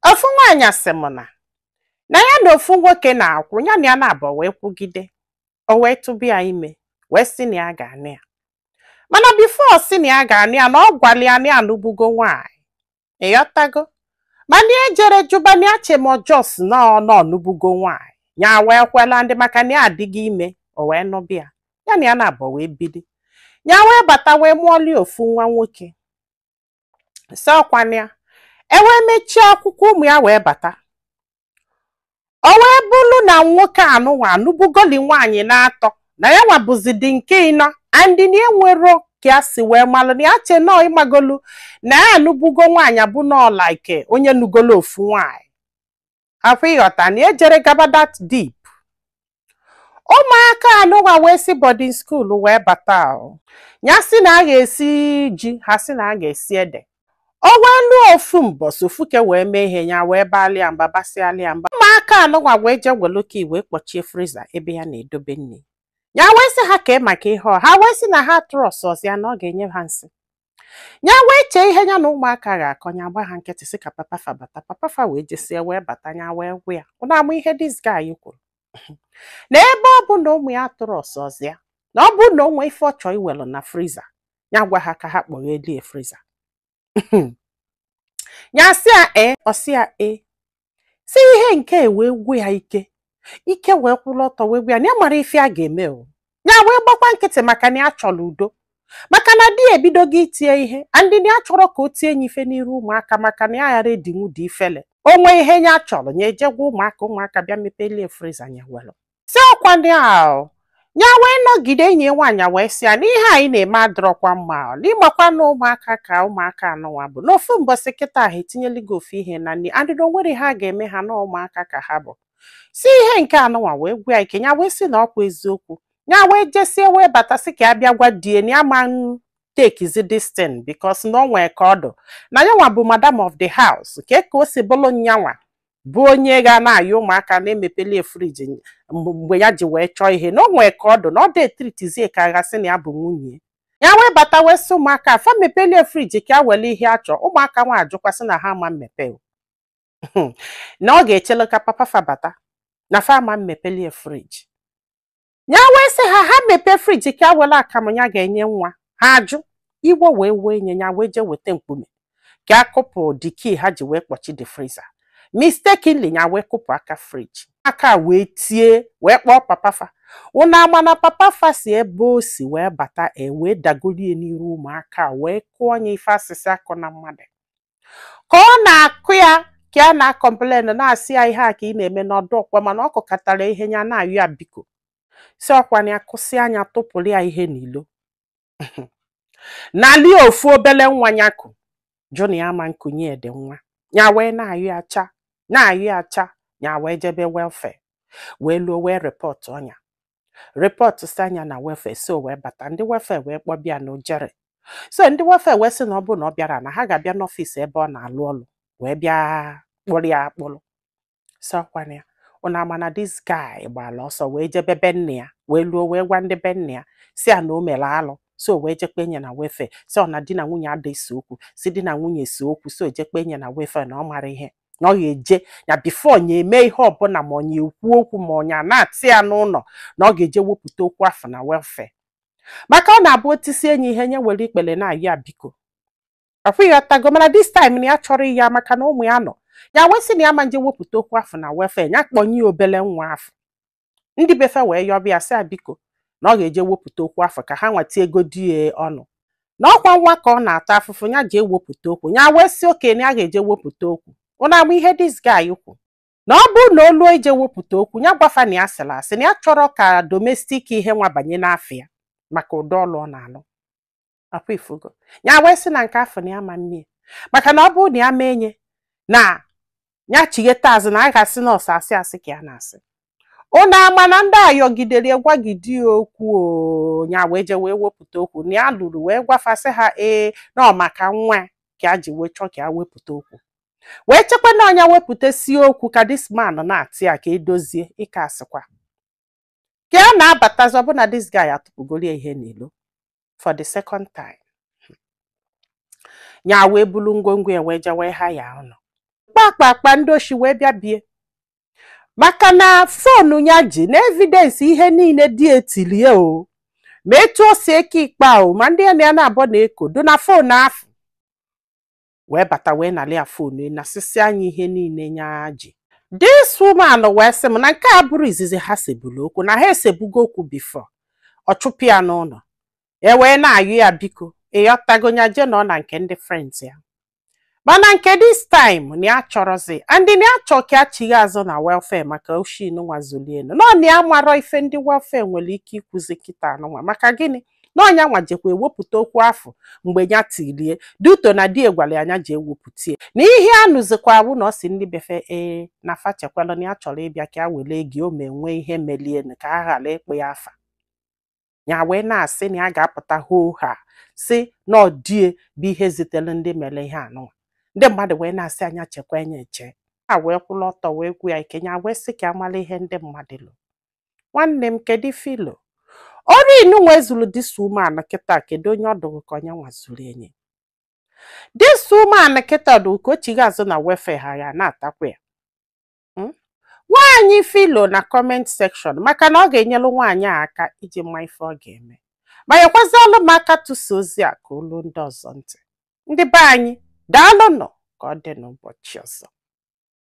ofu nwaanyị sị m na na ya na ofu nwoke na-akwụ ya na ya naabọ wee kwụgide o wee tụba ya ime wee sị na ya ga-anụ ya mana before ọ sị na ya ga-anụ ya na ọ gwala ya na ya anụbugo nwaanyị ị ghọtago mana ya ejero jụba na ya che ma ọ just na ọ na ọ nụbugo nwaanyị ya wee kwela and maka na ya adịgo ime o wee nụbịa ya na ya naabọ wee bidi ya wee bata wee mụọlie ofu nwa nwoke sị ọkwanụ ya e wee mechie akwụkwọ ụmụ ya wee bata o wee bụrụ na nwoke anụnwa anụbugoli nwaanyị naatọ na yanwa bụzi the nke ịnọ and na enwero ka ya si wee malụ na ya che nọ ịmagolu na ya anụbugo nwaanyị abụ nnọọ like onye nụgolu ofu nwaanyị afụ ị ghọta na ejero gaba that deep ụmụaka anụnwa wee si boarding school wee bata o. ya sị na a ga-esi ji ha sị na a ga-esi ede o wee luo ofu mbọsị ofu ke wee mee ihe ya wee balị ya mba basịalị ya mba ụmụaka anụnwa wee jee welu key wee kpọchie freezer ebe ya na-edobe nri ya wee sị ha kee maka ihe o ha wee sị na ha atrustrọzị ya na ọ ga-enye ha nsị ya wee chee ihe ya na ụmụaka ga-akọ ya gba ha nkịtị sị ka papa fa bata papa fa wee jesie wee bata ya wee gwa ya ụnụ ama ihe this guy kwuru na ebe ọ bụ na ụmụ ya atrustrọzị ya na ọ bụ na o nwee ife ọ chọọ iwelu na freezer ya gwa ha ka ha kpọghelie freezer ya sị ya ee ọ sị ya ee sị ihe nke a wee gwụ ya ike ike wee kwụrụ ọtọ wee gwa ya na ya mara ife ya ga-eme o ya wee gbakwa nkịtị maka na ya chọrọ udo maka na di ya ebidogo iti ye ihe and na ya achọrọ ka o tie nye ife n'iru ụmụaka maka na ya aghara edinwu the ifele o nwee ihe ya chọrọ ya eje gwa ụmụaka ụmụaka bịa mepelie freezer ya were sị ọkwa ndị ahụ ya wee nọgide enyi ya nwaanyị a wee sị ya na ihe anyị na-eme adịrọkwa mma o, na ị makwa na ụmụaka ka ụmụaka anụnwa bụ n'ofu mbọsị kịta ha etinyelu gị ofu ihe na nri and na o nwero ihe a ga-eme ha na ụmụaka ka ha bụ sị ihe nke anụnwa wee gwụ ya ike ya wee sị na ọkwa eziokwu ya wee jesie wee bata sị ka ya bịa gwa di ye na ya ama ntekizi this thing because na o nwee ka ọ dụ na yanwa bụ madam of the house kee ka o si bụrụ nyanwa bụ onye ga na-ayọ ụmụaka na-emepelie friji mgbe ya ji wee chọọ ihe na o nwee ka ọ dụ na ọ dị etritizie ka a ga-asị na ya bụ nwunye ya wee bata wee sị ụmụaka a fa mepelie friji ka ya were ihe ya chọọ ụmụaka nwa ajụkwa sị na ha ama mmepe na ọ ga-echele ka papa fa bata na fa ama mmepelie friji ya wee sị ha ha mepee friji ka ya were akamụ ya ga-enye nwa ha ajụ iwe wee wee nya ya wee jee weta mkpume ka ya kụpụ the key ha ji wee kpọchi the freezer mistakenly ya wee kụpụ aka friji aka wee tie wee kpọọ papa fa unu ama na papa fa si ebe o si wee bata wee dagolie n'iru ụmụaka wee kụọ nya ife a sị sị akụna mmadụ ka ọ na-akụ ya ka ya na-akọmplen na-asị ya ihe a ka ị na-eme na ọ dịrọkwa mma na ọ kụkatara ihe ya na-ayọ ya biko so ọkwa nya kụsịa nya tụpụrụ ya ihe n'ilo nalị ofu obele nwa ya ku jụ na ya ama nkunye ya de nwa ya wee na-ayọ ya cha na-ayọ ya cha ya wee jebe welfare wee luo wee repọtụọ nya repọtsịa nya na welfare so wee bata ndị welfare wee kpọba ya na o jerọ so ndị welfare wee sị na ọ bụrụ na ọ bịarọ na ha ga-abịa n'ọfịs ebe ọ na-alụ ọlụ wee bịa kpụrụ ya akpụrụ so ọkwa na ya ụna ama na dis guy gbara ọsọ wee jebe be nne ya wee luo wee gwa ndị be nne ya sị ya na o mere alụ so wee je kpenye na welfare sị ọ na di na nwunye ada ese okwu sị di na nwunye ese okwu so je kpenye na welfare na ọ marọ ihe na ọ ga-eje ya bifo nya emee ihe ọbụla ma ọ nya ekwu okwu ma ọ nya anata ya n'ụlọ na ọ ga-eje wepụta okwu afụ na welfare maka ọ na-abụ o tisie nya ihe nya were ikpere na-ayọ biko ịghọtago mana dis time na ya achọrọ ya maka na ụmụ ya nọ ya wee sị na ya ama nje wepụta okwu afụ na welfare ya kpọnye ya obele nwa afụ ndị be fa wee yọba ya sị ya biko na ọ ga-eje wepụta okwu afụ ka ha nwa tinyegodi ọnụ na ọkwa nwa ka ọ na-ata afụfụ ya je wepụta okwu ya wee sị okay na ya ga-eje wepụta okwu ụna ama ihe dis guy kwu na ọ bụrụ na o lue je wepụta okwu ya gwa fa na ya sịrị asị na ya achọrọ ka domestik ihe nwa banye n'afa ya maka ụdị ọlụ ọ na-alụ ọkwa ịfụgo ya wee sị na nke afụ na ya ama mme ya maka na ọ bụrụ na ya mee nya na ya chigheta azụ na a ga-asị na ọ sọ asị asị ka ya na-asị ụnụ ama na ndị a yọgidere ya gwagide ya okwu ya wee je wee wepụta okwu na ya luru wee gwa fa sị ha ee na ọ maka nwa ka a ji wee chọọ ka ya wepụta okwu wee chekwa na ọ nya wepụtasịa okwu ka dis man nata ya ka e dozie ị ka asịkwa ka ya na-abatazi ọbụna this guy atụpụgoro ya ihe n'ilo for the second time ya wee bulu ngwongwo ya wee je wee haya ụlọ kpakpakpa ndị oshi wee bịa be ya maka na fonu ya ji na evidensi ihe niile dị e tili ya o ma etu o si eke ikpe o ma ndị ya na ya na-abọ na-eko dụ na fonu afụ wee bata wee nalị ya fonu nasịsịa nya ihe niile nya ji this woman wee sị m na nke a abụrọ izizi ha sebulu okwu na ha esebugo okwu bifo ọ chụpụ ya n'ụlọ e wee na-ayọ ya biko ịghọtago ya jee nọ na nke ndị friends ya mana nke this time na ya achọrọzi and na ya chọ ka ya chighe azụ na welfare maka oshi nụwa zuli ya n'ụnọ na ya amarọ ife ndị welfare nwere ike ikwuzi kịtaa nụnwa maka gịnị na ọ nya nwa jekwa ewepụta okwu afụ mgbe ya tilie dị uto na di ye gwara nya ji ewepụtie na ihe a nụzikwa wụ na ọ sị ndị be fa ee na fa chekwala na ya chọrọ ịbịa ka ya were gị o ma enwe ihe melienu ka a ghara ịkpọ ya afa ya wee na-asị na ya ga-apụta hoo haa sị na ọ di ye bụ ihe zitere ndị mere ihe anụnwa ndị mmadụ wee na-asị nya chekwa enye eche a wee kwụrụ ọtọ wee gwu ya ike ya wee sị ka a mala ihe ndị mmadụ lo nwanne m kedu ife i lo ọrụ inunwa ezuru this woman kịta kedu onye ọdụ ka onye nwa zuru enye this woman kịta ọdụ ka o chigha azụ na wefe ha ya na-atakwa ya Mm? gwa anyị ife i lo na comment section maka na ọ ga-enyelu nwaanyị a aka iji ma ife ọ ga-eme ma nyekwazialụ m aka tụsa ozi a ka o lu ndị ọzọ ntị ndị be anyị daalụnụ ka ọ dị n'ụbọchị ọzọ